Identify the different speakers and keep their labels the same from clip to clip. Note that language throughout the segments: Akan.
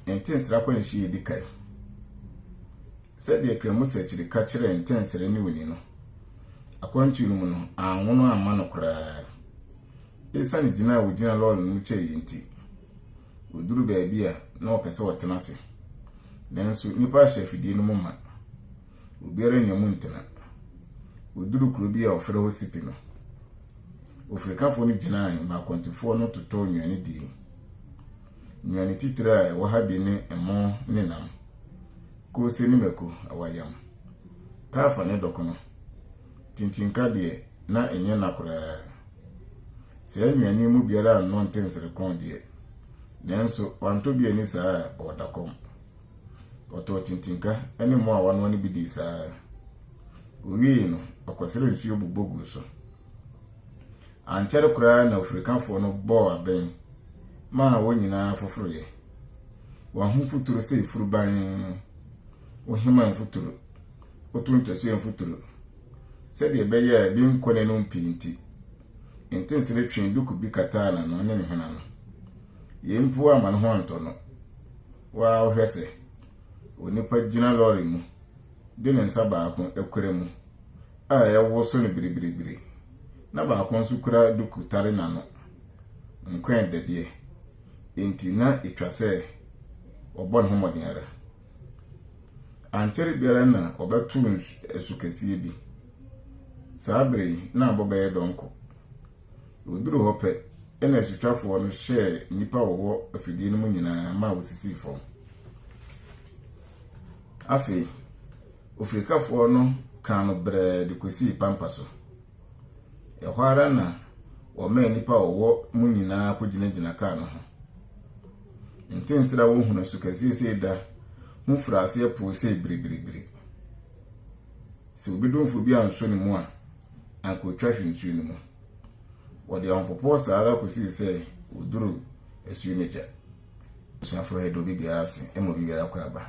Speaker 1: Ntensere akwanhyia a edi kan. Sɛdeɛ Kramusɛkyere ka kyerɛɛ Ntensere ne Oni no, akwantuo no mu no, anwono amma no koraa. Esiane gyina a ɔgyina lɔre no mu kyɛeɛ nti, ɔduru baabi a na ɔpɛ sɛ ɔtena ase. Nanso nnipa ahyɛ afidie no mu ma. Obiara nnya mu ntena. Ɔduru kuro bi a wɔfrɛ hɔ Sipi no, ofirikafoɔ no gyinae ma akwantufoɔ no totɔɔ nnuane dii. Nnuane titire a ɛwɔ ha bi ne ɛmo ne nam, koose ne mako, awayam, taafa ne dɔkono. Kyinkyinkka deɛ, na ɛnyɛ nna koraa. Saa nnuane yi mu biara anno nte nserekɔn deɛ, nanso wantɔ bi anni saa a, ɔreda kɔm. Ɔtɔɔ kyinkyinkka ne ɛmo a wanoa no bi dii saa ara. Owiei no, ɔkɔsrɛɛ nsuo bobɔ guu so. Ankyɛre koraa na ofirikafo no bɔɔ abɛn maa wɔn nyinaa foforoe. Wɔn ho futuru sɛ furuban, wohima mfuturu, woto nkyɛsoɛ mfuturu, sɛdeɛ ɛbɛyɛ a ebi nkɔ n'anom pii nti, ntensere twee duku bi kataa n'ano ne ne hwene ano. Yei mpo amma ne ho antɔ no. Wo ara wohwɛ sɛ onipa gyina lɔre mu de ne nsa baako kura mu a ɛrewoso no biribiribiri, na baako nso kura duku tare n'ano. Nkwɛɛ dɛdeɛ, enti na etwa sɛ ɔbɔ ne ho mmɔden ara. Ankyɛre biara na ɔbɛto nsu kɛseɛ bi. Saa bere yi, na abɔ bɛyɛ dɔnko. Wɔduruu hɔ pɛ, ɛna asutwafoɔ no hyɛɛ nnipa a wɔwɔ afidie no mu nyinaa ma wɔsisii fam. Afei, ofirikafoɔ no kaa no brɛɛ de kɔsii pampa so. Ɛhɔ ara na wɔmaa nnipa a wɔwɔ mu nyinaa kɔgyinagyina kaa no ho. Ntensere a wɔhunu so kɛseɛ sei da ho firii aseɛ poo sei biribiribiri. Sɛ obi domfo bi ansɔ ne mu a, anka ɔtwa hwe nsuo no mu. Wɔde ahopopoɔ saa ara kɔsii sɛ wɔduruu asuo no agya. Abusuafo yɛ dɛ obi biara ase, ɛma obi biara kɔ aba.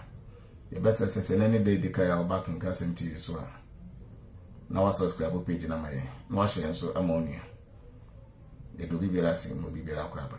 Speaker 1: Yɛbɛsrɛsɛ sɛ ɛnɛ ne da edi kan a wɔba Akenka Asɛm TV so a, na wasubscribe page no ama yɛn, na wahyɛ yɛn nso ama onua. Yɛde obi biara ase ma obi biara akɔ aba.